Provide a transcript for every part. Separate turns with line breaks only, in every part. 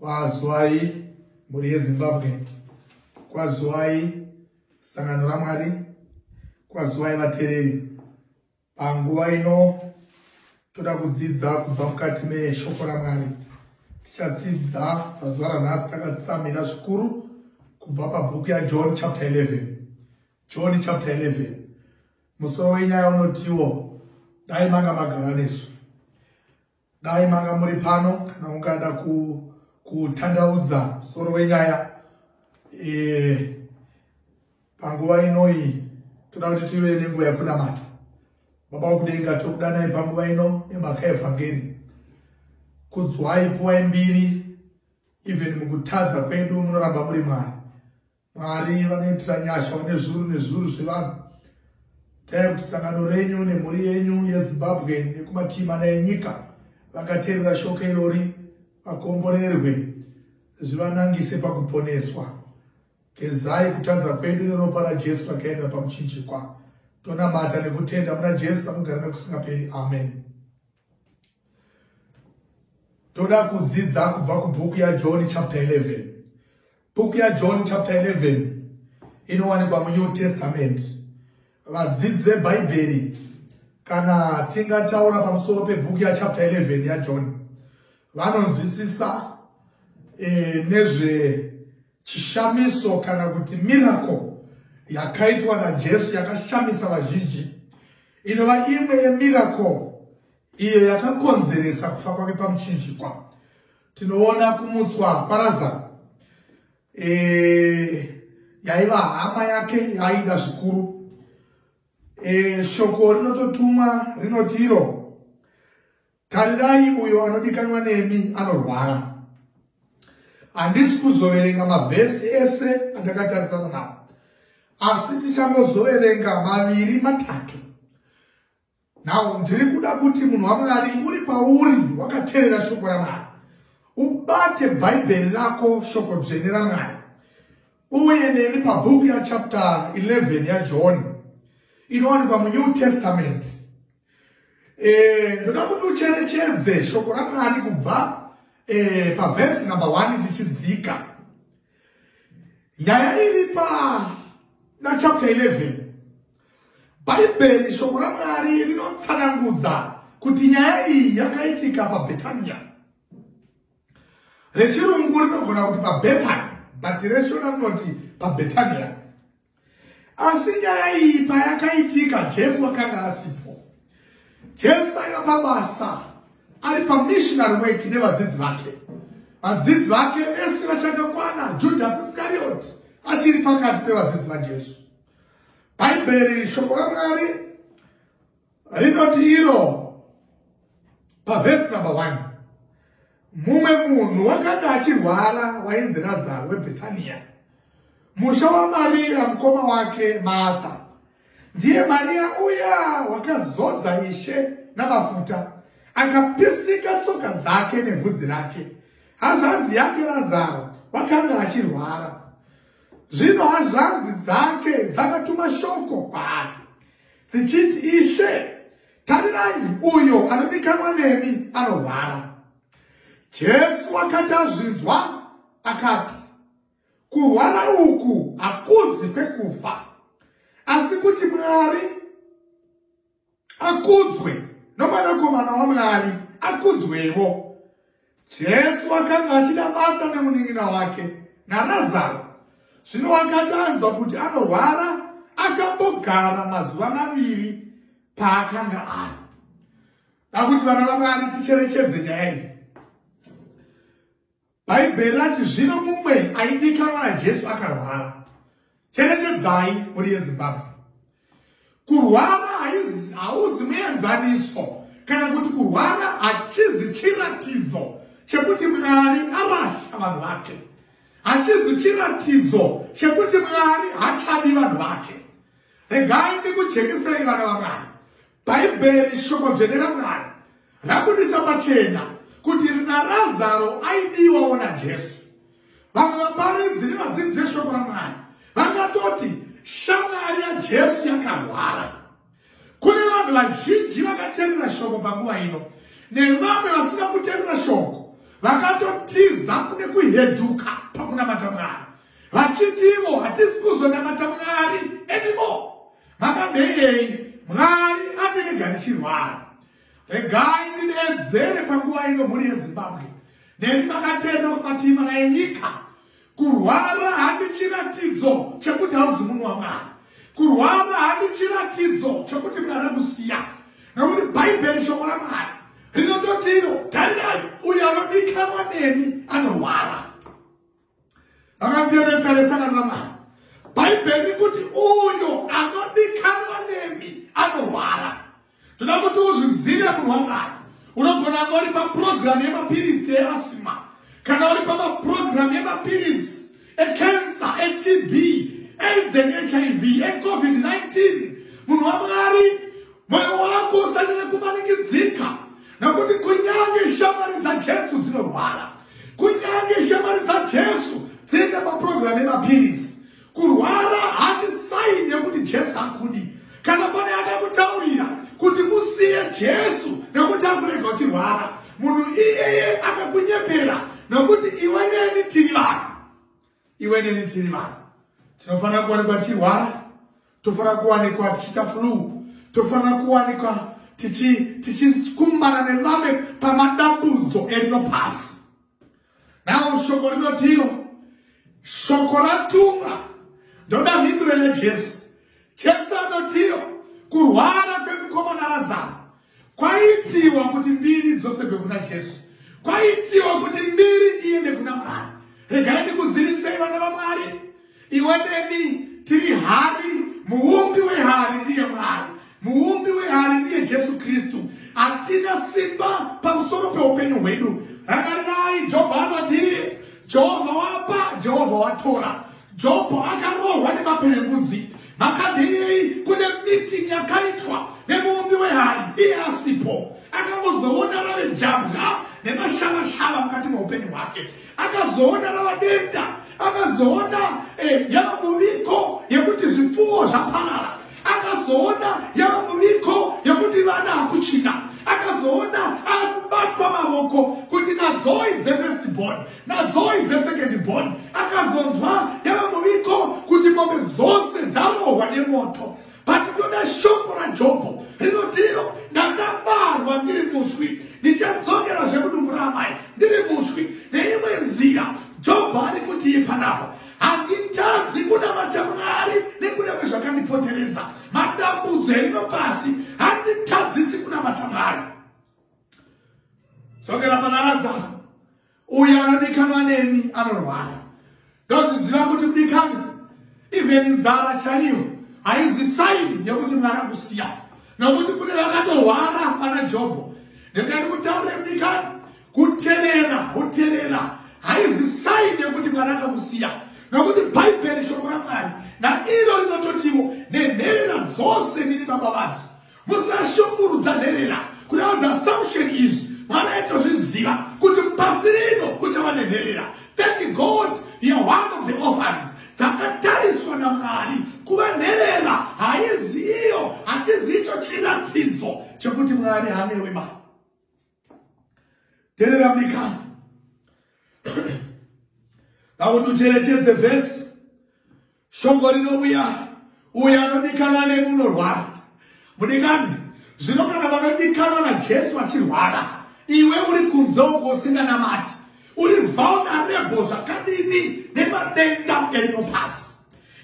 Kwazwai mhuri yeZimbabwe, kwazwai sangano raMwari, kwazwai vatereri. Panguva ino toda kudzidza kubva mukati meshoko raMwari. Tichadzidza pazuva ranhasi takatsamira zvikuru kubva pabhuku yaJohn chapter 11. John chapter 11 musoro wenyaya unotiwo dai manga magara nesu. Dai manga muri pano kana mukada kutandaudza ku musoro wenyaya e, panguva inoyi toda kuti tive nenguva yekunamata baba wokudenga tokudanai panguva ino nemhaka evhangeri kudzwai puwai mbiri even mukutadza kwedu munoramba muri mwari Mwari vanoitira nyasha vane zvuru nezvuru zvevanhu. Dai kuti sangano renyu nemhuri yenyu yeZimbabwe nekumativi mana enyika vakateerera shoko irori vakomborerwe zvivanangise pakuponeswa. Gezai kutadza kwedu neropa raJesu rakaenda pakuchinjikwa. Tonamata nekutenda muna Jesu anogara nekusingaperi. Amen. Toda kudzidza kubva kubhuku yaJohn chapter 11. Bhuku yaJohn chapter 11 inowanikwa muNew Testament. Vadzidzi veBhaibheri kana tingataura pamusoro pebhuku yachapter 11 yaJohn vanonzwisisa e, nezvechishamiso kana kuti miracle yakaitwa naJesu yakashamisa vazhinji inova imwe yemiracle iyo yakakonzeresa kufa kwake pamuchinjikwa tinoona kumutswa kwarazaro e, yaiva hama yake yaida zvikuru e, shoko rinototumwa rinoti iro tarirai uyo anodikanwa nemi anorwara handisi kuzoverenga mavhesi ese andakatarisana nawo asi tichangozoverenga maviri matatu now ndiri kuda kuti munhu wamwari uri pauri wakateerera shoko ramwari ubate bhaibheri rako shoko dzvene ramwari uye neni pabhuku yachapter 11 yajohn inowanikwa munew testament eh, ndoda kuti ucherechedze shoko ramwari kubva eh, pavhesi number 1 tichidzika nyaya iri pana chapter 11 bhaibheri shoko ramwari rinotsanangudza kuti nyaya iyi yakaitika pabhetania rechirungu rinogona kuti pabethani but reshona rinoti pabhetania asi nyaya iyi payakaitika jesu wakanga asipo jesu aiva pabasa ari pamissionary work nevadzidzi vake vadzidzi vake vese vachakakwana judhasi iskarioti achiri pakati pevadzidzi vajesu bhaibheri shoko ramwari rinoti iro pavhesi number one mumwe munhu wakanga achirwara wainzi razaro webhetaniya musha wamariya mukoma wake martha ndiye mariya uya wakazodza ishe namafuta akapisika tsoka dzake nebvudzi rake hazvanzi yake razaro wakanga achirwara zvino hazvanzi dzake dzakatuma shoko kwaake dzichiti, Ishe, tarirai, uyo anodikanwa nemi anorwara. Jesu akati azvinzwa, akati, Kurwara uku hakuzi kwekufa, asi kuti Mwari akudzwe nomwanakomana waMwari akudzwevo. Jesu akanga achida Marta nemunin'ina wake naRazaro. Zvino wakati anzwa kuti anorwara, akambogara mazuva maviri paakanga ari. Dakuti vana vaMwari ticherechedze nyaya iyi. Bhaibheri rati zvino mumwe aidikanwa naJesu akarwara. Cherechedzai mhuri yeZimbabwe. Kurwara hauzi muenzaniso kana kuti kurwara hachizi chiratidzo chekuti Mwari arasha vanhu vake. Hachizi chiratidzo chekuti Mwari hachadi vanhu vake. Regai ndikujekisei vana vaMwari. Bhaibheri, shoko dzvene raMwari, rabudisa pachena kuti naRazaro aidiwawo naJesu. Vamwe vaparidzi nevadzidzi veshoko raMwari vangatoti shamwari yaJesu yakarwara. Kune vanhu vazhinji vakaterera shoko panguva ino nevamwe vasina kuterera shoko vakatotiza kune kuheduka pakunamata Mwari vachiti ivo hatisi kuzonamata Mwari anymore. Makadeyei mwari aterega ndichirwara regai ndinedzere panguva ino mhuri yezimbabwe neni makaterera kumatima naye nyika kurwara handi chiratidzo chekuti hauzi munhu wamwari kurwara handi chiratidzo chekuti mwari akusiya nokuti bhaibheri shoko ramwari rinototi iro tarirai uyo anodikanwa neni anorwara akatereseresa kana mari bhaibheri kuti uyo anodikanwa nemi anorwara toda kuti uzvizive munhu wamwari unogona anga uri paprogramu yemapiritsi easima kana uri pamaprogramu yemapiritsi ekensa etb aids and hiv ecovid-19 munhu wamwari moyo wako usanire kumanikidzika nokuti kunyange shamwari dzajesu dzinorwara kunyange shamwari dzajesu dzinoenda paprograme emapiritsi kurwara handisaini yekuti jesu akudi kana pane akakutaurira kuti musiye jesu nekuti akurega uchirwara munhu iyeye akakunyepera nokuti iwe neni tiri vanhu iwe neni tiri vanhu tinofanira kuwanikwa tichirwara tofanira kuwanikwa tichiita flu tofanira kuwanikwa tichikumbana tichi nevamwe pamadambudzo erino pasi nawo shoko rinotiro shoko ratumwa ndoda mhinduro yajesu jesu anotiro kurwara kwemukomana razaro kwaitiwa kuti mbiri dzosegwe kuna jesu kwaitiwa kuti mbiri iende kuna mwari regai ndikuzivisei vana vamwari iwe neni tiri hari muumbi wehari ndiye mwari muumbi wehari ndiye jesu kristu hatina simba pamusoro peupenyu hwedu rangarirai jobho anoti jehovha wapa jehovha watora jobho akarohwa nemaperembudzi Makadheyei kune meeting yakaitwa nemuumbi wehari iye asipo akangozoona rave jabwa nemashavashava mukati meupenyu hwake akazoona rava denda akazoona eh, yava muviko yekuti zvipfuwo zvaparara akazoona yava muviko yekuti vana hakuchina akazoona akubatwa mavoko kuti nadzoi dzefestibon Nadzoi dzesecond born akazonzwa yava muviko kuti mombe dzose dzarohwa nemoto but ndoda shoko rajobho rinoti iro ndakabarwa ndiri muswi ndichadzokera zvekudumbu raamai ndiri muswi neimwe nzira jobho ari kuti ye panapa handitadzi kunamata mwari nekuda kwezvakandipoteredza madambudzo eno pasi handitadzisi kunamata mwari dzokera pana razaro uyo anodikanwa neni anorwara ndozviziva kuti mudikani even nzara chaiyo haizi saini yekuti mwari akusiya nokuti kune vakatorwara pana jobho ndingati kutaure mudikani kuterera kuterera haizi saini yekuti mwari akakusiya nokuti bhaibheri shoko ramwari nairo rinototiwo nenherera dzose ndiri baba vadzo musashungurudza nherera kuti how the assumption is mwari aitozviziva kuti pasi rino kuchava nenherera thank god you're one of the orphans dzakatariswa namwari kuva nherera haiziyo hatiziicho chiratidzo chekuti mwari hanewe ba terera mikana ngakuti ucherechedze vhesi shoko rinouya uyo anodikana nemunorwara mudikani zvino kana vanodikanwa najesu vachirwara iwe uri kunze uko usinganamati uri vulnerable zvakadini nemadenda eino pasi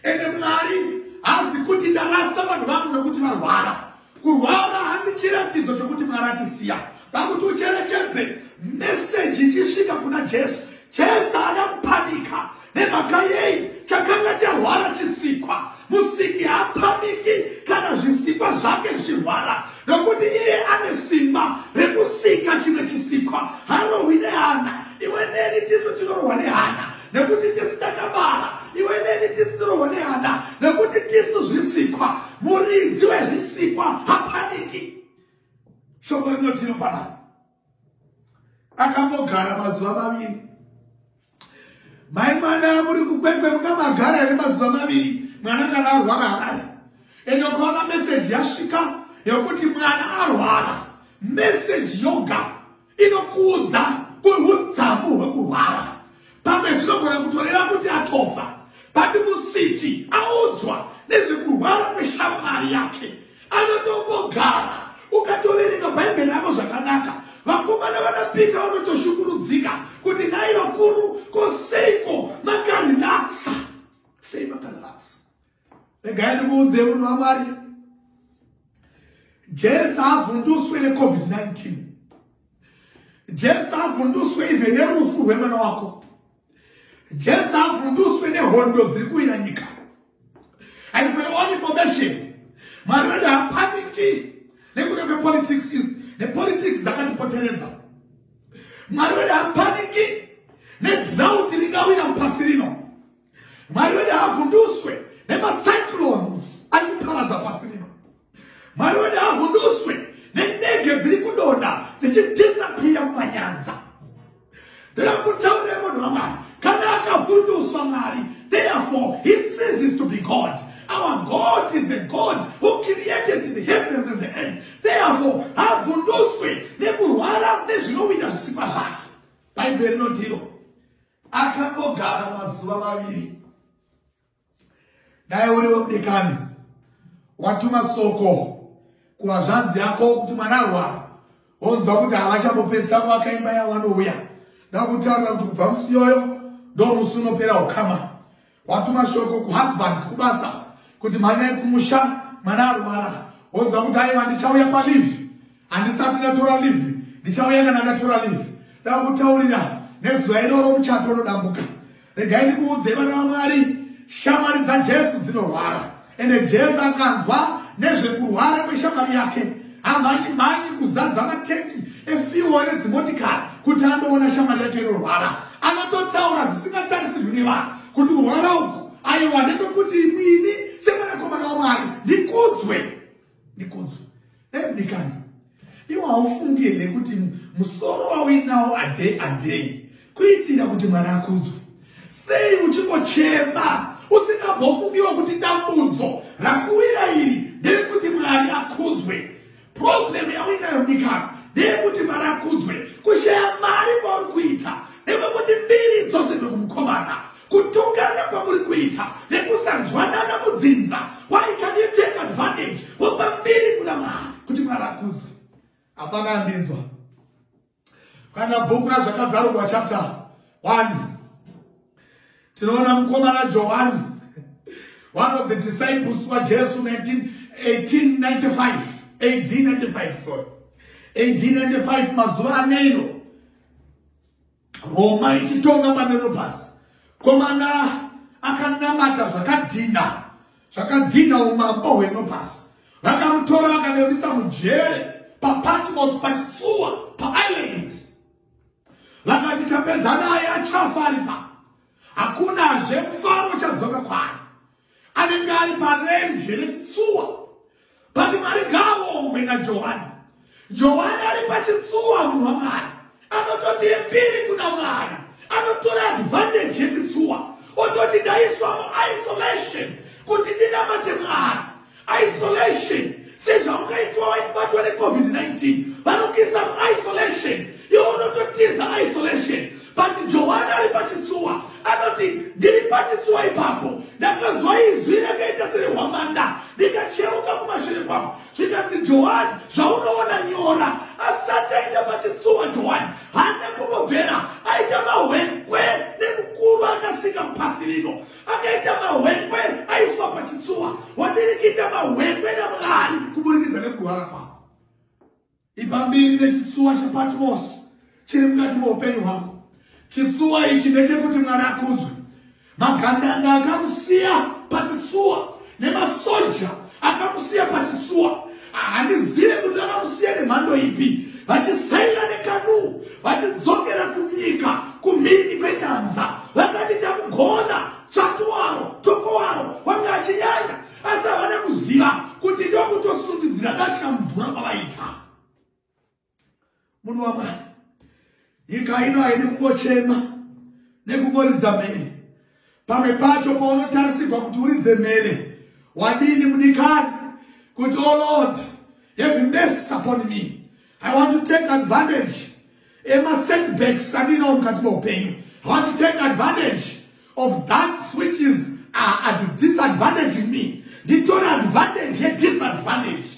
ende mwari hazi kuti ndarasa vanhu vangu nekuti varwara kurwara handichiratidzo chokuti mwari atisiya pakuti ucherechedze meseji ichisvika kuna jesu jesu haana kupanika nemhaka yei chakanga charwara chisikwa musiki haapaniki kana zvisikwa zvake zvichirwara nokuti iye ane simba rekusika chimwe chisikwa harohwi nehana iwe neni tisu tinorohwa nehana nekuti tisu takabara iwe neni tisu tirohwa nehana nekuti tisu zvisikwa muridzi wezvisikwa hapaniki shoko rinotiro pana akambogara mazuva maviri mai mwana muri kukwekwe mukamagara here mazuva maviri mwana kana arwara harari ende ukaona meseji yasvika yekuti mwana arwara meseji yoga inokuudza kuhudzamu hwekurwara pamwe zvinogona kutoreva kuti atofa bati musiki audzwa nezvekurwara kweshamwari yake anotongogara ukatoverenga bhaibheri yavo zvakanaka vakomana vanapita vanotoshukurudzika kuti nai vakuru koseiko makarelaksa sei makarelaksa regai ndikuudze munhu wamwari jesu avhunduswe necovid-19 jesu avhunduswe even nerufu rwemwana wako jesu avhunduswe nehondo dziri kuwira nyika and for your own information mwari vedu hapaniki nekuda kwepolitics nepolitics dzakatipoteredza mwari wedu hapaniki nedrouti ringawira mupasi rino mwari wedu haavhunduswe nemacyclones ari kuparadza pasi rino mwari wedu haavhunduswe nenege dziri kudonha dzichidhisapiya mumanyanza ndoda kutaurei munhu wamwari kana akavhunduswa mwari therefore he ceases to be god our god is a god who created the heavens and the earth therefore havhunduswe nekurwara nezvinowira zvisikwa zvake bhaibheri rinotiro akangogara mazuva maviri dai uri wekudekani watuma soko kuvazvanzi yako kuti mwana arwara wonzwa kuti havachambopedzisa kuvaka imba yavanouya ndakutaura kuti kubva musiyoyo ndomusi unopera ukama Watuma shoko kuhusband kubasa kuti mhanyai kumusha mwana arwara wonzwa kuti aiwa ndichauya palive handisati ndatora live ndichauya kana ndatora live da kutaurira nezuva iroro muchato unodambuka regai ndikuudzei vana vamwari shamwari dzajesu dzinorwara Ende Jesu akanzwa nezvekurwara kweshamwari yake, amhanyi mhanyi kuzadza matengi efiwo nedzimotikari kuti andoona shamwari yake inorwara. Anototaura zvisingatarisirwi nevanhu kuti kurwara uku aiwa ndekwekuti imwini semwanakomana waMwari ndikudzwe. ndikodzo dai mudikani iwo haufungi here kuti musoro wauinawo adei adei kuitira kuti mwari akudzwe sei uchingochema usingambofungiwo kuti dambudzo rakuwira iri nderekuti mwari akudzwe problemu yauinayo mudikani ndeyekuti mwari akudzwe kushaya mari kwauri kuita nekwekuti mbiri dzose ndokumukomana kutukana kwamuri kuita nekusanzwanana mudzinza why can you take advantage wopa mbiri kuna mwari kuti mwari akudze hapana andinzwa kana bhuku razvakazarurwa chapter 1 tinoona mukomana johani one of the disciples wajesu 1895 ad 95 sorry ad 95 mazuva aneiro Roma ichitonga manerobhasi komana akanamata zvakadhinha zvakadhinha umambo hwenobhasi vakamutora vakanevisa mujere papatmos pachitsuwa paisland vakati tapedza naye achafa aripa hakunazve mufaro uchadzoka kwaari anenge ari parenje rechitsuwa but mwari ngaavongwe najohani johani ari pachitsuwa munhu wamwari anototi epiri kuna mwari anotora advantage yechitsuwa ototi ndaiswa muisolation kuti ndinamate mwari isolation sezvaungaitwa waibatwa necovid-19 vanokisa isolation iwo unototiza isolation but johani ari pachitsuwa anoti ndiri pachitsuwa ipapo ndakazoizwi rakaita serehwamanda ndikacheuka kumashure kwangu zvikanzi johani zvaunoona nyora asati aenda pachitsuwa johani hana kumbobvera aita mahwekwe nemukuru akasika pasi rino akaita mahwekwe aiswa pachitsuwa wadirikita mahwekwe namwari kuburikidza nekurwara kwako ipa mbiri nechitsuwa chepatmosi chiri mukati meupenyu hwako chitsuwa ichi ndechekuti mwari akudzwe magandanga akamusiya pachitsuwa nemasoja akamusiya pachitsuwa handizive kuti vakamusiya nemhando ipi vachisaina nekanuu vachidzokera kunyika kumhiri kwenyanza vakati tamugona tsvatu waro toko waro wange achinyanya asi havana kuziva kuti ndokutosundidzira datya mumvura kwavaita munhu wamwari nyika ino haidi kungochema nekungoridza mhere pamwe pacho paunotarisirwa kuti uridze mhere wadini mudikani kuti o oh lord have mess upon me i want to take advantage emasetbacks andinawo mukati meupenyu i want to take advantage of that which is uh, at disadvantage in me nditore advantage yedisadvantage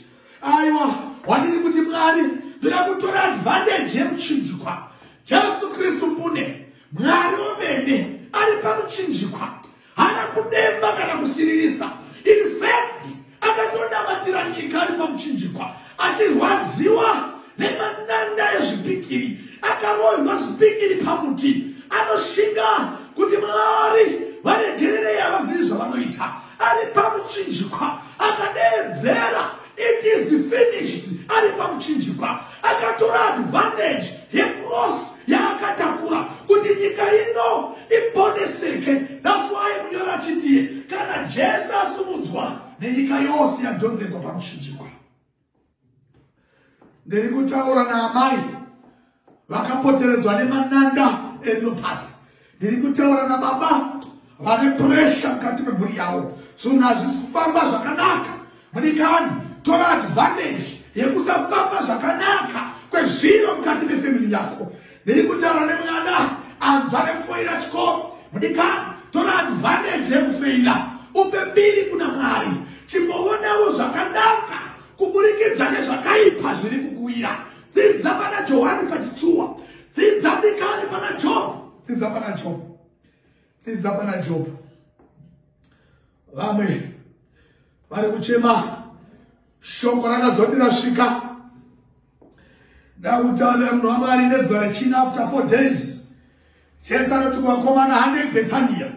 aiwa wandiri kuti mwari ndida kutora advantage yemuchinjikwa jesu kristu mbune mwari womene ari pamuchinjikwa haana kudemba kana kusiririsa in fact Akatondamatira nyika ari pamuchinjikwa achirwadziwa nemananda ezvipikiri, akarohwa zvipikiri pamuti, anoshinga kuti Mwari varegererei havazivi zvavanoita. Ari pamuchinjikwa akadeedzera it is finished ari pamuchinjikwa akatora advantage yecross yaakatakura kuti nyika ino iponeseke thats why munyori achitiye kana jesu asumudzwa nenyika yose yadhonzekwa pamuchinjikwa ndiri kutaura naamai vakapoteredzwa nemananda enopasi ndiri kutaura nababa vane puresha mukati memhuri yavo zvinhu hazvisi kufamba zvakanaka mudikani tora advantage yekusafamba zvakanaka kwezviro mukati mefamili yako ndiri kutaura nemwana anzwa nekufoira chikoro mudikani tora advantage yekufeila upe mbiri kuna mwari chimboonawo zvakanaka kuburikidza nezvakaipa zviri kukuwira dzidza pana johani pachitsuwa dzidza dikani pana job dzidza pana job dzidza pana job vamwe vari kuchema shoko rakazoti rasvika ndakutaurira munhu wamwari nezuva rechina after four days jesu anoti kuvakomana handei bethania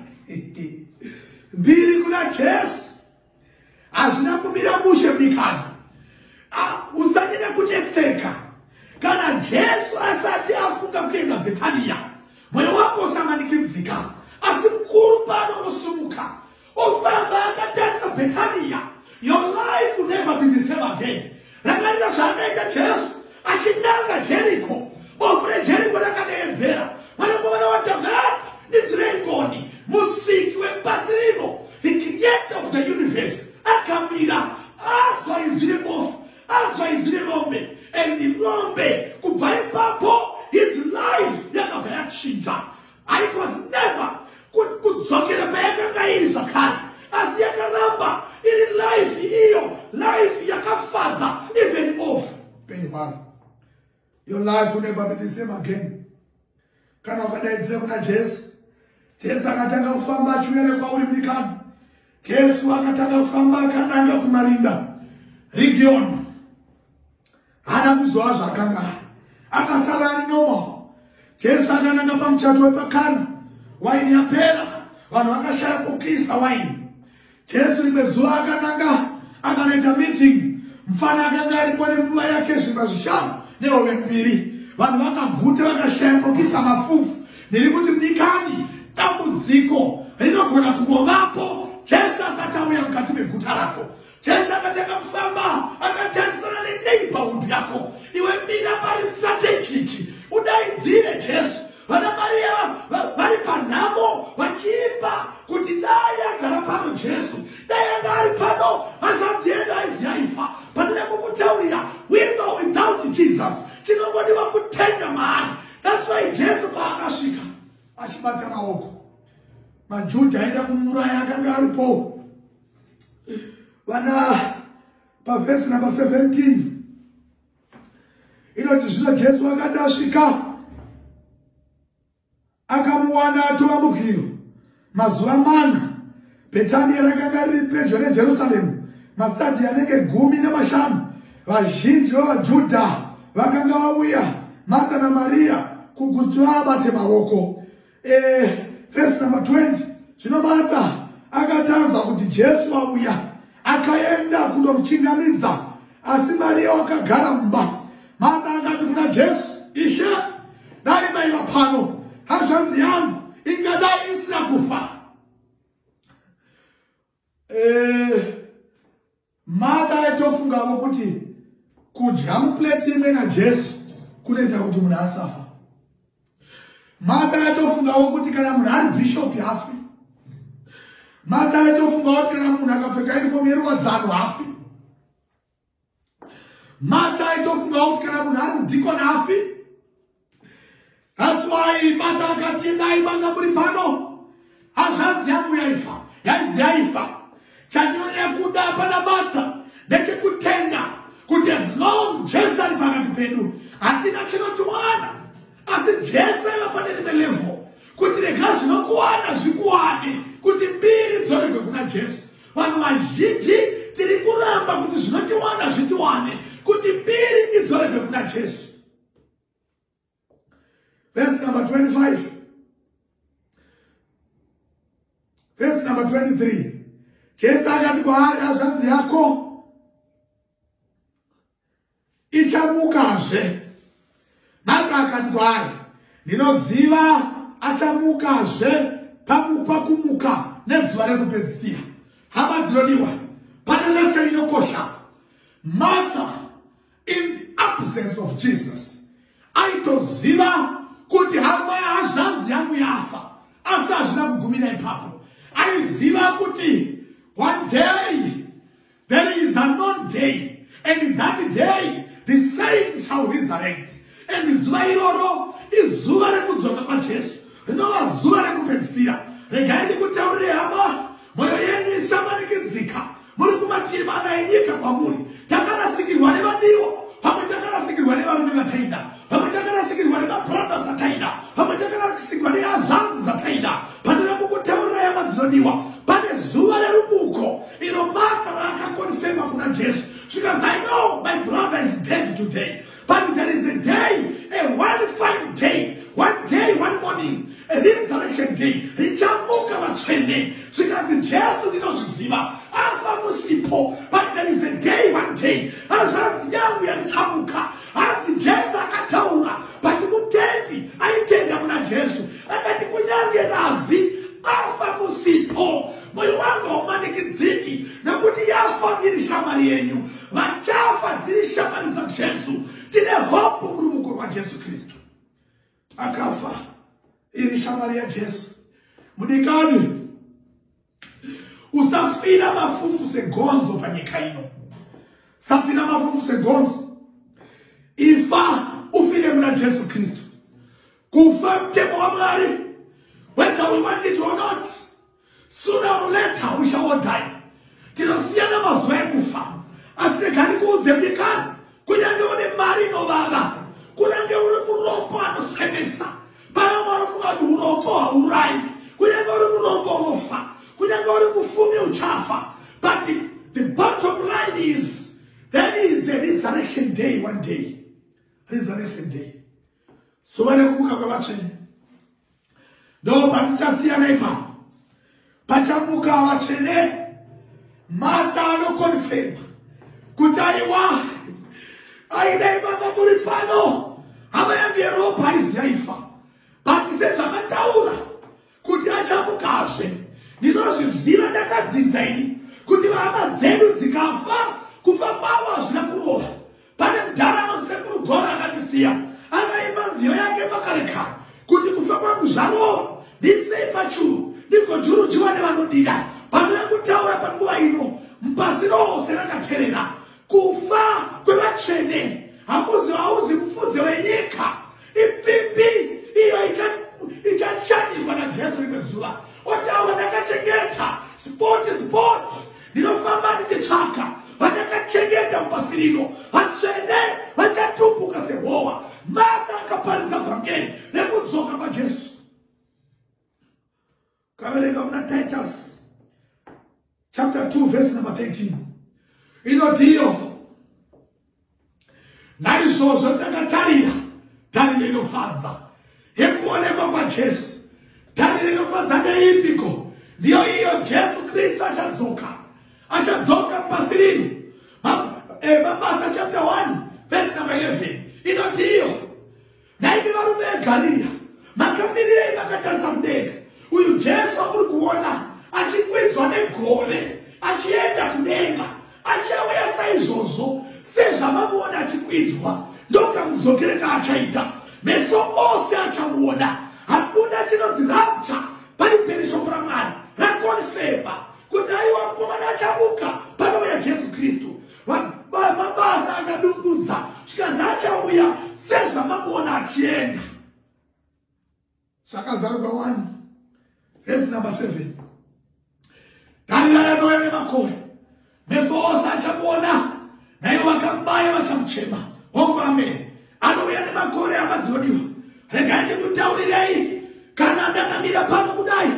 mbiri kuna jesu hazvina kumira mushe bikani usanyanya kutetseka kana jesu asati afunga kuenda betaniya mwoyo wako usamanikidzika asi mukuru pano kusumuka ofamba akatarisa betaniya your life will never be the same again rangarira zvaakaita jesu achinanga jeriko bofu rejeriko rakadeedzera vanokomana wadhavhati ndidhirengoni musiki wepasi rino the creator of the universe akamira azwa izwi rebofu azwa izwi rerombe and rombe kubva ipapo his life yakabva yachinja and it was never kudzokera payakanga iri zvakare asi yakaramba iri life iyo life yakafadza even off penyu hwaro your life will never be the same again kana ukadaidzira kuna jesu jesu akatanga kufamba achiuya nekwauri mdikani jesu akatanga kufamba akananga kumarinda region haana kuzova zvaakanga ari akasara ari normal jesu akananga pamuchato wepakana waini yapera vanhu vakashaya kukisa waini jesu rimwe zuva akananga akanoita meeting mfana akanga aripo nenguva yake zvimba zvishanu nehove mbiri vanhu vakaguta vakashaya kukisa mafufu ndiri kuti mdikani dambudziko rinogona kungovapo jesu asati auya mukati meguta rako Jesu akatanga kufamba akatarisana neneighborhood yako iwe mira pari strategic udaidzire jesu vana mariya vari panhamo vachiimba kuti dai agara pano jesu dai anga ari pano hazvanzi yedu aiziyaifa pandine kukutaurira with or without jesus chinongodiwa kutenda maari thats why jesu paakasvika achibata maoko majuda aida kumuraya akanga aripowo vana pavhesi number 17 inoti zvino jesu akati asvika akamuwana atova mugiro mazuva mana betania rakanga riri pedyo nejerusaremu masitadhi anenge gumi nemashanu vazhinji vevajudha vakanga vauya marta namariya kukuti vabate maoko Eh, verse number 20 zvino martha akatanzwa kuti jesu vauya akaenda kunomuchingamidza asi mariya wakagara mumba martha akati kuna jesu ishe dai maiva pano hazvanzi yangu ingadai isina kufa eh, Madai tofungavo kuti kudya muplate imwe najesu kunoita kuti munhu asafa madai tofungavo kuti kana munhu ari bishop hafi madai tofungavo kuti kana munhu akapfeka uniform yeruwadzano hafi madai tofungavo kuti kana munhu ari mudikon hafi That's why mata akati endai manga muri pano hazvanzi yangu yaifa yaizi yaifa chandinonyaya kuda pana mata ndechekutenda kuti as long jesu ari pakati pedu hatina chinotiwana asi jesu aiva pane rimwe levo kuti rega zvinokuwana zvikuwane kuti mbiri dzoregwe kuna jesu vanhu vazhinji tiri kuramba kuti zvinotiwana zvitiwane kuti mbiri idzoregwe kuna jesu Verse number 25. Verse number 23. Jesu akati kwaari hazvanzi yako ichamukazve. Marko akati kwaari ndinoziva achamukazve pamupa kumuka nezuva rekupedzisira. Hama dzinodiwa pane lese inokosha. Martha in the absence of jesus aitoziva kuti hama hazvanzi yangu yafa asi hazvina kugumira ipapo aiziva kuti one day there is anon day and that day the saints shall resurrect And zuva iroro izuva rekudzoka kwaJesu rinova zuva rekupedzisira. Regai ndikutaurire hama, mwoyo yenyu isamanikidzika. Muri kumativi mana enyika kwamuri. Takarasikirwa nevadiwa, pamwe takarasikirwa nevarume vataida, pamwe takarasikirwa nemabrothers ataida, pamwe takarasikirwa nehazvanzi dzataida. Pandina kukutaurira hama dzinodiwa, pane zuva rerumuko iro Martha raakakonfema kuna Jesu. Zvikanzi, I know my brother is dead today. But there is a day, a one fine day, one day, one morning, a resurrection day, richamuka vatsvene. Zvikanzi Jesu ndinozviziva, afa musipo. But there is a day, one day, hazvanzi yangu yarichamuka. Asi Jesu akataura, but mutendi aitenda kuna Jesu. Akati kunyange razi, afa musipo. Moyo wangu haumanikidziki, nokuti yafa iri shamwari yenyu. vachafa dziri shamwari dzajesu tine hope murumuko rwajesu kristu akafa iri shamwari yajesu mudikani usafira mafufu segonzo panyika ino safira mafufu segonzo ifa ufire muna jesu kristu kufa mtemo wamwari whether we want it or not Sooner or later we shall all die. Tinosiyana mazuva ekufa. Asi regani kuudze mdikani kunyange une mari inovava kunyange uri murombo anosemesa pana mwanofunga kuti urombo haurai kunyange uri murombo unofa kunyange uri mufumi uchafa but the, the bottom line is there is a resurrection day one day resurrection day zuva rekubuka kwevatsvene ndo patichasiyana ipapo pachabuka vatsvene mata anokonfema kuti aiwa aidai mama muri pano hama yange yeropa aizi yaifa but sezvamataura kuti achamukazve ndinozviziva ndakadzidza ini kuti vahama dzedu dzikafa kufa kwavo hazvina kurova pane mudhara anosekuru gora akatisiya akaimba nziyo yake makare kare kuti kufa kwangu zvarova ndisei pachuru ndigojurujiwa nevanodida pandina kutaura panguva ino mpasi rose rakaterera kufa kwevatsvene hakuzi hauzi mufudze wenyika ipfimbi iyo ichashandikwa najesu rimwe zuva otaura ndakachengeta spoti spoti ndinofamba ndichitsvaka vandakachengeta pasi rino vatsvene vachatumbuka sehowa mata akaparidza vhangeri rekudzoka kwajesu Kaverenga muna Titus chapter 2 verse number 13. Inotiyo naizvozvo takatarira tariro inofadza yekuonekwa kwaJesu. Tariro inofadza ndeipiko? Ndiyo iyo Jesu Kristu achadzoka, achadzoka pasi rino. Eh, Mabasa chapter 1 verse number 11 inotiyo Nhaimi varume veGarirea, makamirirei makatarisa mudenga? Uyu Jesu amuri kuona achikwidzwa negore achienda kudenga achauya saizvozvo sezvamamuona achikwidzwa ndokamudzokere kaachaita meso ose achamuona hakuna chinonzi rapture bhaibheri shoko ramwari rakonfema kuti aiwa mukomana achamuka panouya jesu kristu mabasa akadungudza zvikanzi achauya sezvamakuona achienda zvakazarurwa wani vhesi number seven dharira yanouya nemakore meso ose achamuona naivo vakambaya vachamuchema hongu ameni anouya nemakore hama dzinodiwa regai ndikutaurirei kana ndakamira pano kudai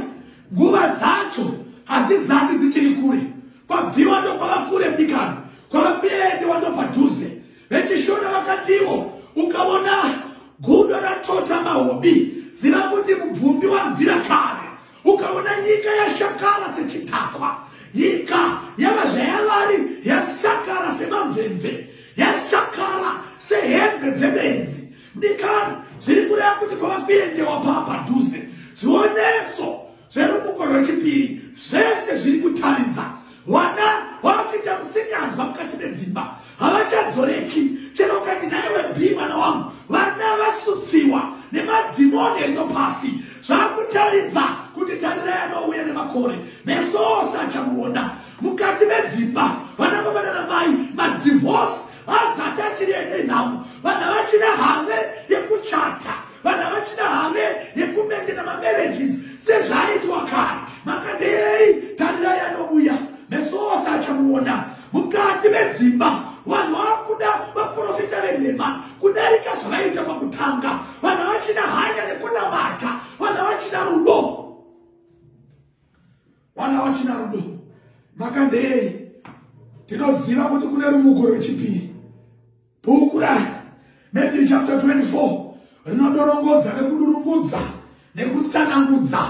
nguva dzacho hadzizati dzichiri kure kwabviwa ndokwava kure mdikano kwava kuendewa ndopadhuze vechishona vakatiwo ukaona gudo ratota mahobi ziva kuti mubvumbi wabvira kare ukaona nyika yashakara sechidhakwa nyika yava zvayavari yashakara semamvemve yashakara sehembe dzebenzi mudikani zviri kureva kuti kwava kuendewa paa padhuze zvioneso zverumuko rwechipiri zvese zviri kutaridza Wana wakuita musikanzwa mukati medzimba havachadzoreki chero ukati naiwe bi mwana wangu vana vasutsiwa nemadhimoni endo pasi zvakutaridza kuti tarira yanouya nemakore meso ose achamuona mukati medzimba vana baba nana mai madivhorse azati achiri ende nhamo vana vachina have yekuchata vanhu havachina hame yekumentena mamarriages sezvaaitwa kare makadei tarirai anovuya meso ose achamuona mukati medzimba vanhu vakuda vaprofita venhema kudarika zvavaiita pakutanga vanhu havachina hanya nekunamata vanhu havachina rudo vanhu havachina rudo makadei tinoziva kuti kune rumuko rwechipiri Bhuku ra Matthew chapter 24 rinodorongodza nekudurungudza nekutsanangudza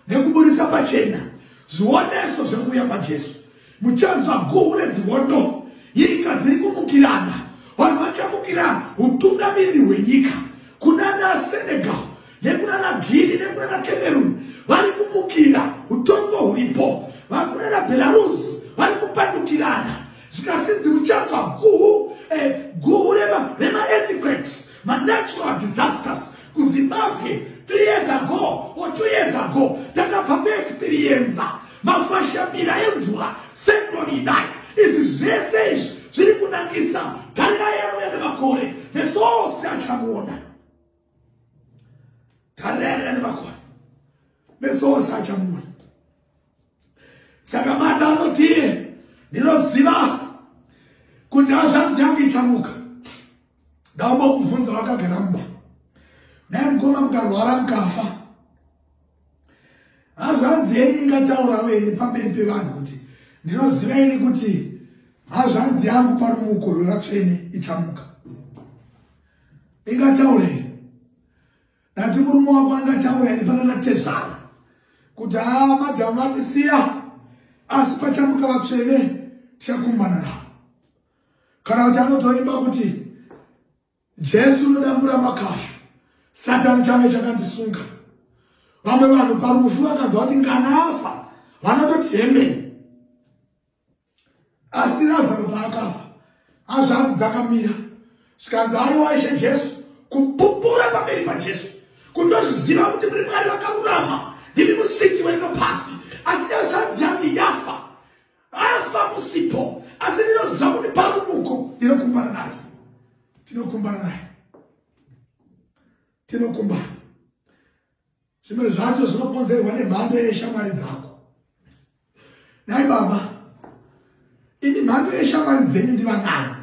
nekuburitsa pachena zvioneso zvekuuya kwaJesu. Muchanzwa guhu redzihondo, nyika dziri kumukirana, vanhu vachamukira utungamiri hwenyika kuna naSenegal nekuna naGuinea nekuna naCameroon vari kumukira utongo huripo, vakuna naBelarus vari kupandukirana zvikasinzi muchanzwa guhu eh, guhu remaearthquakes manatural disasters kuzimbabwe three years ago or two years ago takabva kuexperienza mafashamira emvura secloni idai izvi zvese izvi zviri kunangisa tarira yero yane makore meso ose achamuona tarira yero yane makore meso ose achamuona saka mata anotii ndinoziva kuti hazvanzi yangu ichamuka ndaomba kuvhunza wakagara mumba dai mukoma mukarwara mukafa hazvanzi yenyu ingataura wei pamberi pevanhu kuti ndinoziva ini kuti hazvanzi yangu parumuko rweratsvene ichamuka ingataurei Ndati murume wako angataura here panana tezvara kuti haa ah, madhamu vatisiya asi pachamuka vatsvene tichakumbana navo kana kuti anotoimba kuti jesu unodambura makashu satani change chakandisunga vamwe vanhu parufu vakanzwa kuti nganafa vanototi hemeni asi razaro paakafa hazvanzi dzakamira zvikanzi aiwa ishe jesu kupupura pamberi pajesu kundozviziva kuti muri mwari vakarurama ndimi musiki werino pasi asi hazvanzi yange yafa afa musipo asi ndinoziva kuti parumuko ndinokumbana naye tinokumbana naye tinokumbana zvimwe zvacho zvinokonzerwa nemhando yeshamwari dzako nhai baba ini mhando yeshamwari dzenyu ndivanani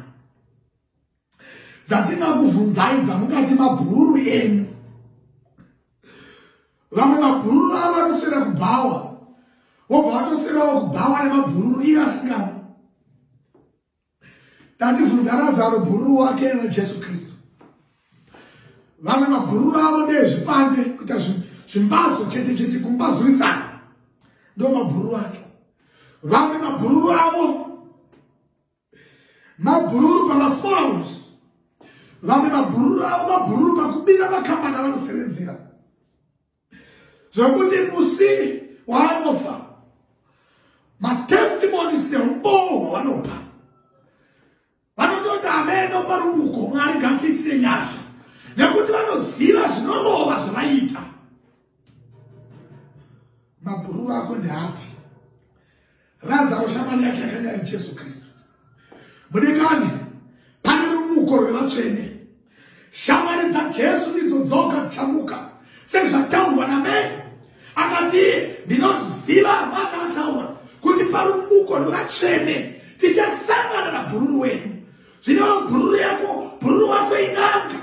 dzatinakuvhunzai dzamukati mabhururu enyu vamwe mabhururu avo anoswera kubhawa wobva watoswerawo kubhawa nemabhururu iye asingana Ndandivhunza Razaro bhururu wake na Jesu Kristu. Vamwe mabhururu avo ndezvipande kuita zvimbazo chete chete kumbazurisana. Ndo mabhururu ake. Vamwe mabhururu avo mabhururu pa masmall house. Vamwe mabhururu avo mabhururu pakubira makambani avanosevenzera. zvekuti musi waanofa matestimonies neumboo hwavanopa vanototi ameno parumuko mwari ngatiitire nyasha nekuti vanoziva zvinorova zvavaiita mabhuru vako ndeapi Razaro shamwari yake yakanga ari Jesu Kristu. Mudikani, pane rumuko rwevatsvene. Shamwari dzaJesu ndidzo dzoga dzichamuka sezvataurwa naMary akati iye ndinoziva amata ataura kuti parumuko rwevatsvene tichasangana nabhururu wenyu zvinewo bhururu yako bhururu wako in'anga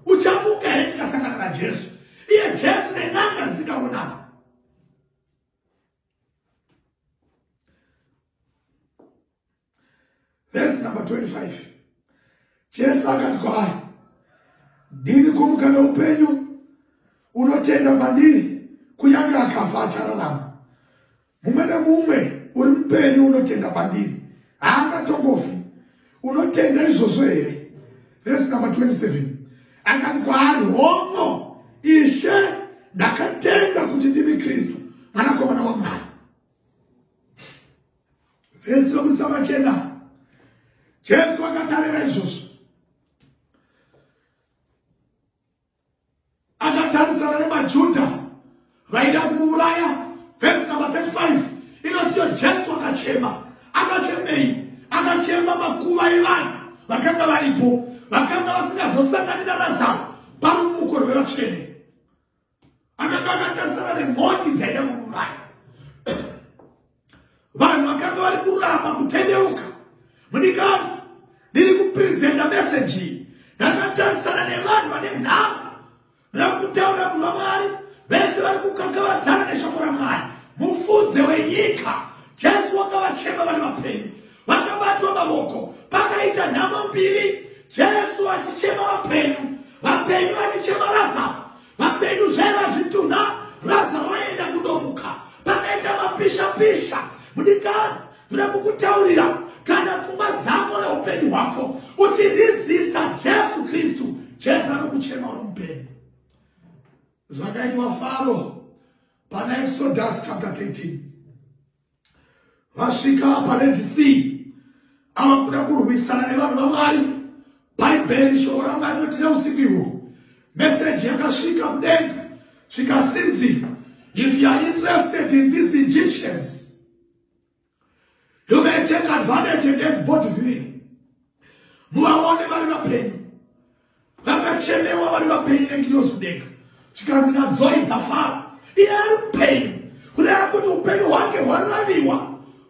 uchamuka here tikasangana najesu iye jesu nen'anga zisikaonana Verse number 25. Jesu akati kwaari, ndini kumuka neupenyu, unotenda mandiri, kunyange akafa achararama. Mumwe nemumwe uri mupenyu unotenda mandiri, haangatongofi unotenda izvozvo here vhesi number 27 akati kwaari hono ishe ndakatenda kuti ndimi kristu mwanakomana wamwari vhesi vekudisa machena jesu vakatarira izvozvo akatarisana nemajudha vaida kumuuraya vhesi namba 35 inotiyo jesu akachema akachemei akachema makuva evanhu vakanga varipo vakanga vasingazosangani narazaro parumuko rwevatsvene akanga akatarisana nemhondi dzaida kuuraya vanhu vakanga vari kuramba kutendeuka mudikani ndiri kupresenta meseji iyi ndakatarisana nevanhu vane nhau rakutaura munhu wamwari vese vari kukakavadzana neshoko ramwari mufudze wenyika jesu wakavachema vari vapenyu vakabatwa mavoko pakaita nhamo mbiri jesu achichema vapenyu vapenyu vachichema razaro Vapenyu zvaiva zvitunha Razaro waenda kundomuka pakaita mapisha pisha mudikani ndoda kukutaurira kana pfungwa dzako neupenyu hwako uchiresista jesu kristu jesu anokuchema uri mupenyu zvakaitwa faro pana exodus chapter 13 vasvika pared sea ava kuda kurwisana nevanhu vamwari bhaibheri shoko ramwari noti neusiku ihwo meseji yakasvika kudenga zvikasinzi if you are interested in these egyptians you may take advantage and get body vii muvaone vari vapenyu vakachemewa vari vapenyu nengirozi kudenga zvikanzi nadzoi dzafara iye ari mupenyu kureva kuti upenyu hwake hwaraviwa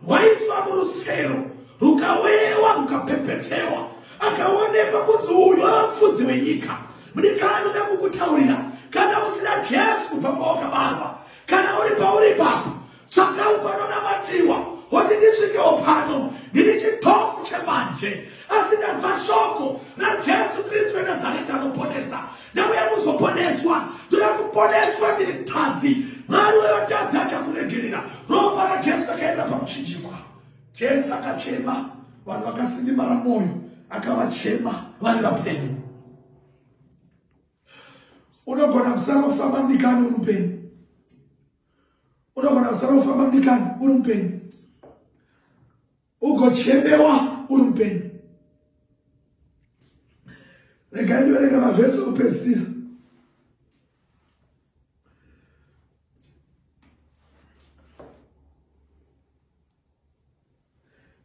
hwaiswa murusero rukawewa rukapepetewa akaonekwa kunzi uyu ava mufudzi wenyika mudikani uda kukutaurira kana usina jesu kubva pawakabarwa kana uri pauri ipapo tsvakau panonamatiwa hoti ndisvikewo pano ndiri chitofu chemanje asi ndanzwa shoko rajesu kristu renazareta anoponesa ndauya kuzoponeswa ndoda kuponeswa ndiri mtadzi mwari wevatadzi achakuregerera ropa rajesu rakaenda pakuchinjikwa jesu akachema vanhu vakasindimara mwoyo akavachema vari vapenyu unogona kusara kufamba mdikani uri mupenyu unogona kusara ufamba mbikani uri mupenyu ugochemewa uri mupenyu regai ndiverenga mavhesi okupedzisira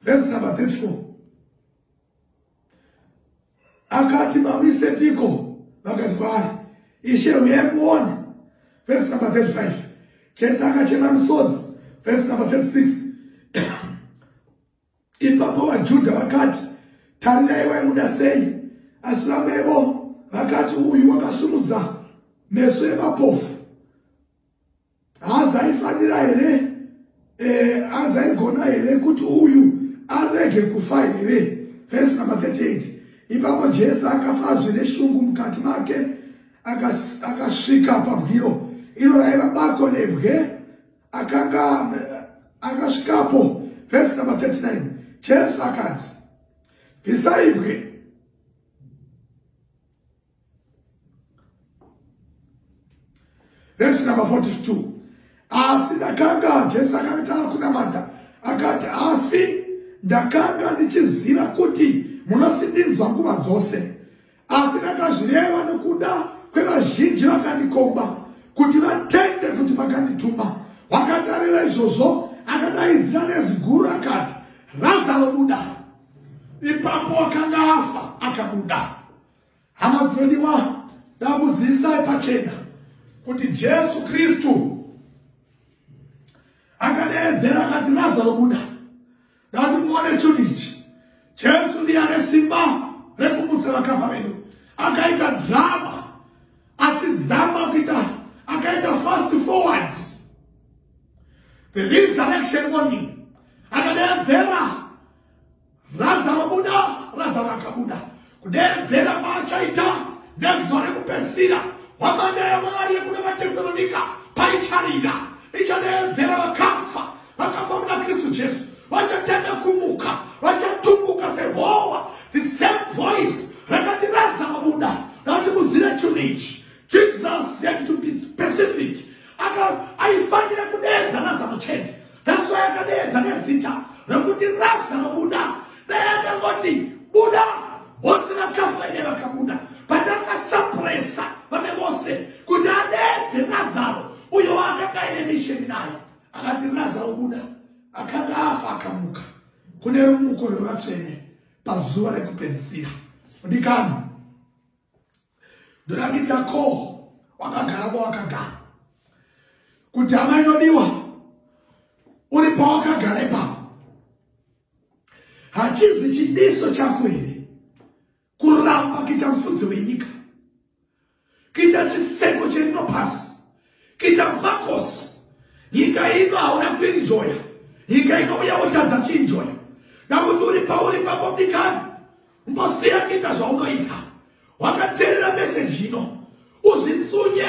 Verse number 34. Akati mamise piko vakati kwaari ishe huyai muone. Verse number 35. Jesu akachema misodzi. Verse number 36. Ipapo vaJudha vakati tarirai waimuda sei asi vamwevo vakati uyu wakasumudza meso emapofu haazaifanira here eh, hazaigona here kuti uyu arege kufa here vhesi number 38 ipapo jesu akafa zvine shungu mukati make akasvika pabwiro iro raiva bako nebwe akanga akasvikapo vhesi number 39 jesu akati bvisai bwe vhesi number 42 asi ndakanga jesu akati akunamata akati asi ndakanga ndichiziva kuti munosindinzwa nguva dzose asi ndakazvireva nokuda kwevazhinji vakandikomba kuti vatende kuti makandituma wakati areva izvozvo akadaidzira neziguru akati razaro buda ipapo akanga afa akabuda Hama dzinodiwa, ndakuzivisai pachena kuti Jesu Kristu akadeedzera akati Lazaro buda. Ndati muone chunhu ichi. Jesu ndiye ane simba rekumutsa vakafa vedu. Akaita drama achizama kuita akaita fast forward the resurrection morning akadeedzera Razaro buda, Razaro akabuda. Kudeedzera paachaita nezuva rekupedzisira hwamanda yaMwari yekuna vaTesalonika paicharira ichadeedzera vakafa vakafa muna Kristu Jesu vachatenda kumuka vachatumbuka sehowa the same voice rakati Razaro buda rakati muzive chinhu ichi Jesus had to be specific. Aifanira kudeedza Lazaro chete. That's why akadeedza nezita rokuti Lazaro buda. Dai akangoti buda vose vakafa vaine vakabuda. But akasapresa vamwe vose kuti adeedze Lazaro uyo waakanga aine misheni naye. Akati Lazaro buda akanga afa akamuka. Kune rumuko rwevatsvene pazuva rekupedzisira. Mudikani. ndoda kuita ko wakagara kwawakagara kuti hama inodiwa uri pawakagara ipapo hachizi chidiso chako here kuramba kuita mufudzi wenyika kuita chiseko cherino pasi Kuita mfakosi. Nyika ino hauna kuinjoya. Nyika ino uya wotadza kuinjoya. Nakuti uri pauri papo bikani. Mbosiya kuita zvaunoita. Wakaterera meseji ino. Uzvitsunye.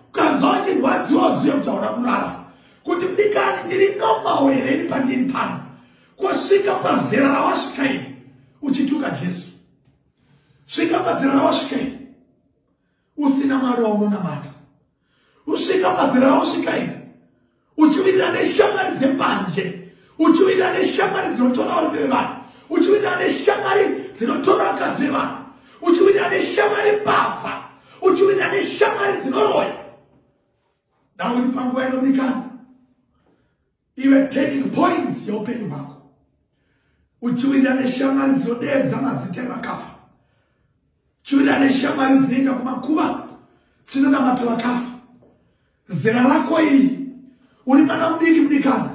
Ukanzwa uchirwadziwa uzive kuti hauna kurara. Kuti bikani ndiri normal here ini pandiri pano. Kwasvika pazera rawasvika ini. Uchituka Jesu. Svika pazera rawasvika ini. usina mwari waunonamata usvika pazera rausvika iri uchivirira neshamwari dzembanje uchivirira neshamwari dzinotora varume vevanhu uchivirira neshamwari dzinotora vakadzi vevanhu uchivirira neshamwari mbavha uchivirira neshamwari dzinoroya dauni panguva inodikana ive turning point yeupenyu hwako uchiwirira neshamwari dzinodeedza mazita evakafa chiwirira neshamwari dzinoenda kumakuva chinonamata vakafa zera rako iri uri mwana mudiki mudikana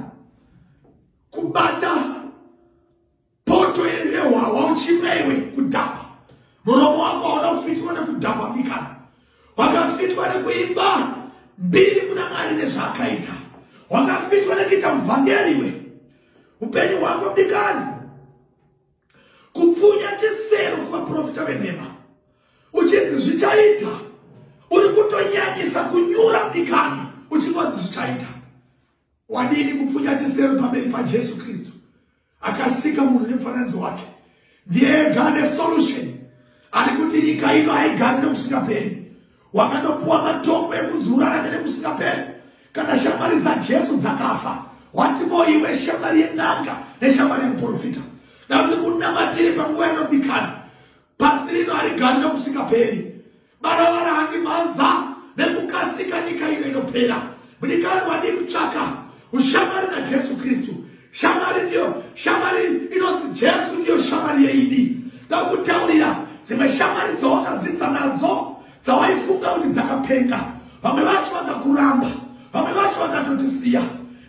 kubata poto yehwahwa uchimwa iwe kudhakwa muromo wako hauna kufitwa nekudhakwa bikana wakafitwa nekuimba mbiri kuna mwari nezvaakaita wakafitwa nekuita muvhangeri iwe upenyu hwako bikana kupfunya chisero kuvaprofita venhema uchinzi zvichaita uri kutonyanyisa kunyura bikana uchingonzi zvichaita wadini kupfunya chisero pamberi pajesu kristu akasika munhu nemufananidzo wake ndiye ega ane solution ari kuti nyika ino haigari nekusingaperi wakanopuwa matombo ekunzi urarame nekusingaperi kana shamwari dzajesu dzakafa watimo iwe shamwari yen'anga neshamwari yemuprofita dandi kunamatiri panguva yanobikana pasi rino harigari nekusingaperi Baravara handi mhanza nekukasika nyika ino inopera. Mudikanwa wadii kutsvaka ushamwari naJesu Kristu. Shamwari ndiyo shamwari inonzi Jesu ndiyo shamwari yeidi. Ndakutaurira dzimwe shamwari dzawakadzidza nadzo dzawaifunga kuti dzakapenga. Vamwe vacho vakakuramba, vamwe vacho vakatotisiya.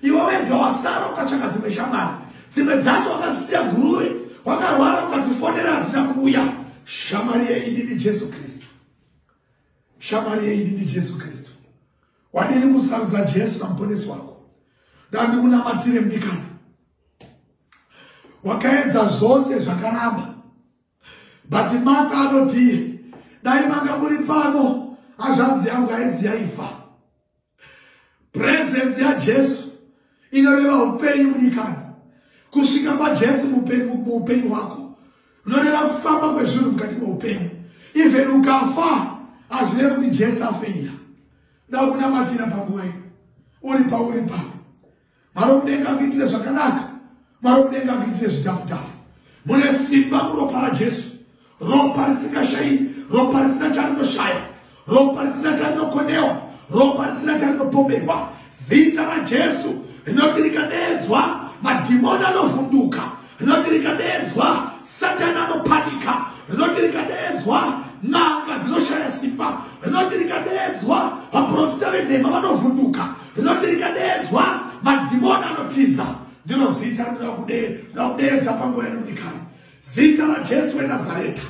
Iwe wega wasara ukachaka dzimwe shamwari. dzimwe dzacho wakazisiya guruve wakarwara ukazifonera hadzina kuuya shamwari yeidi ndijesu kristu shamwari yeidi ndijesu kristu wadini kusarudza jesu samuponesi wako dandikunamatire mdikana wakaedza zvose zvakaramba but mata anotii dai manga muri pano hazvanzi yangu aizi yaifa presence yajesu inoreva upenyu munyikani kusvika pajesu muupenyu hwako unoreva kufamba kwezvinhu mukati meupenyu even ukafa hazvireve kuti jesu afeira da kunamatira panguva ino uri pauri pako Mwari wokudenga akuitire zvakanaka. Mwari wokudenga akuitire zvidhafu-dhafu. Mune simba muropa raJesu. Ropa risingashayi, ropa risina charinoshaya, ropa risina charinokonewa, ropa risina charinopomerwa. Zita raJesu rinoti rikadeedzwa madhimoni anovhunduka. rinoti rikadeedzwa satani anopanika rinoti rikadeedzwa n'anga dzinoshaya simba rinoti rikadeedzwa vaprofita venhema vanovhunduka rinoti rikadeedzwa madhimoni anotiza ndiro zita rinoda kudeedza panguva yanodikani zita rajesu wenazareta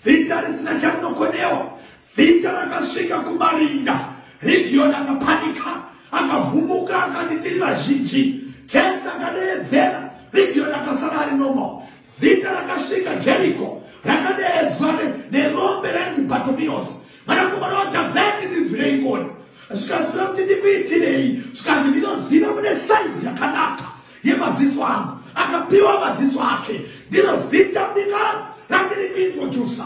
zita risina charinokonewa Zita rakasvika kumarinda Rigioni akapanika akavhumuka akati tiri vazhinji Jesi akadeedzera Rigioni akasara ari normal Zita rakasvika Jeriko rakadeedzwa nerombe rainzi Bartomeus mwanakomana waDhavheti ndinzwirei ngoni zvikaziva kuti ndikuitirei zvikanzi ndinoziva mune saizi yakanaka yemaziso angu akapiwa maziso ake ndinozita bikaro randiri kuintrodusa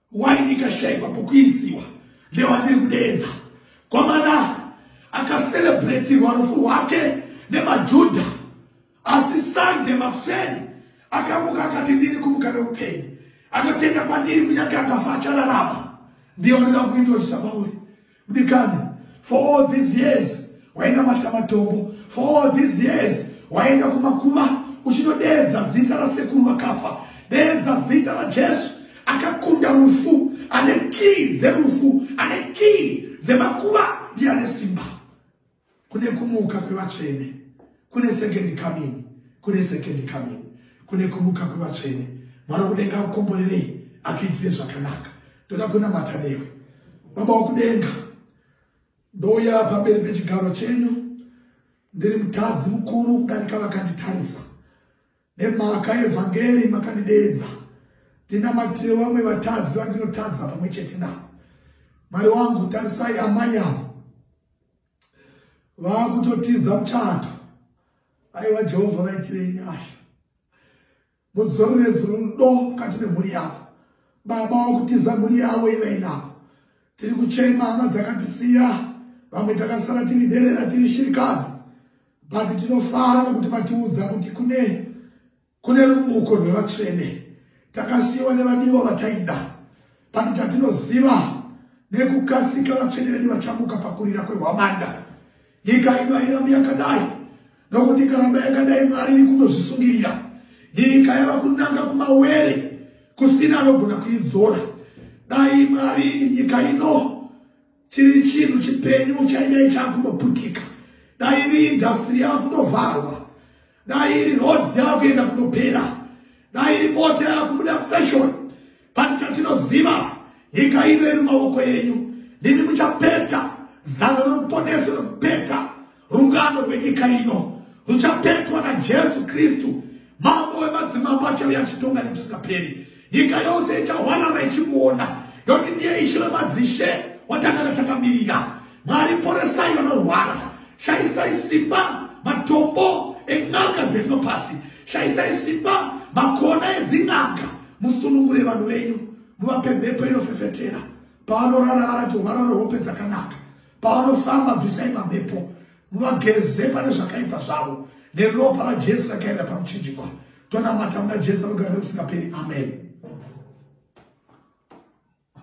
Why ndikashaikwa pokuisiwa ndewandiri kudeedza kwamana akaselebretirwa rufu rwake nemajudha asi sande makuseni akamuka akati ndiri kumuka neupenyu anotenda kwandiri kunyange akafa achararama ndiye wanoda kuindoisa pauri Kudikani, for all these years, waenda matamatombo, for all these years, waenda kumakuva, uchinodeza zita la sekuru vakafa, deza zita la Jesu, akakunda rufu, ane kii dzerufu, ane kii dzemakuva, ndiye ane simba. kune kumuka kwevatsvene kune second coming kune second coming kune kumuka kwevatsvene mwari wekudenga akukomborerei akuitire zvakanaka toda kunamata newe baba wekudenga ndouya pamberi pechigaro chenyu ndiri mutadzi mukuru kudarika vakanditarisa nemhaka yevhangeri makandideedza ndinamatire vamwe vatadzi vandinotadza pamwe chete navo mwari wangu tarisai amai avo vakutotiza muchato aiwa jehovha vaitirei nyasha mudzorerezi rudo mukati memhuri yavo baba vakutiza mhuri yavo ivainavo tiri kuchema hama dzakatisiya vamwe takasara tiri derera tiri shirikadzi but tinofara nokuti matiudza kuti kune Kune rumuko rwevatsvene takasiyiwa nevadiwa vataida pati chatinoziva nekukasika vatsvene vedu vachamuka pakurira kwehwamanda nyika ino hairambi yakadai nokuti ikaramba yakadai mwari iri kunozvisungirira nyika yava kunanga kumawere kusina anogona kuidzora dai mwari nyika ino chiri chinhu chipenyu chaidai chaakunoputika dai iri indhastiri yava kunovharwa dai iri road yakuenda kunopera dai iri mota yakubuda fashion pane chatinoziva nyika ino iri maoko enyu ndimi muchapeta zano roruponeso rokupeta rungano rwenyika ino ruchapetwa najesu kristu mambo wemadzimambo achauya achitonga nekusingaperi nyika yose ichahwarara ichimuona yokuti ndiye ishe vemadzishe watangana takamirira mwari poresai vanorwara shaisai simba matombo en'anga dzerino pasi shaisai simba makona edzin'anga musunungure vanhu venyu muvape mhepo inofefetera pavanorara varati uvarare hope dzakanaka pavanofamba bvisai mamhepo muvageze pane zvakaipa zvavo neropa rajesu rakaenda pamuchinjikwa tonamata muna jesu rugare rekusingaperi amen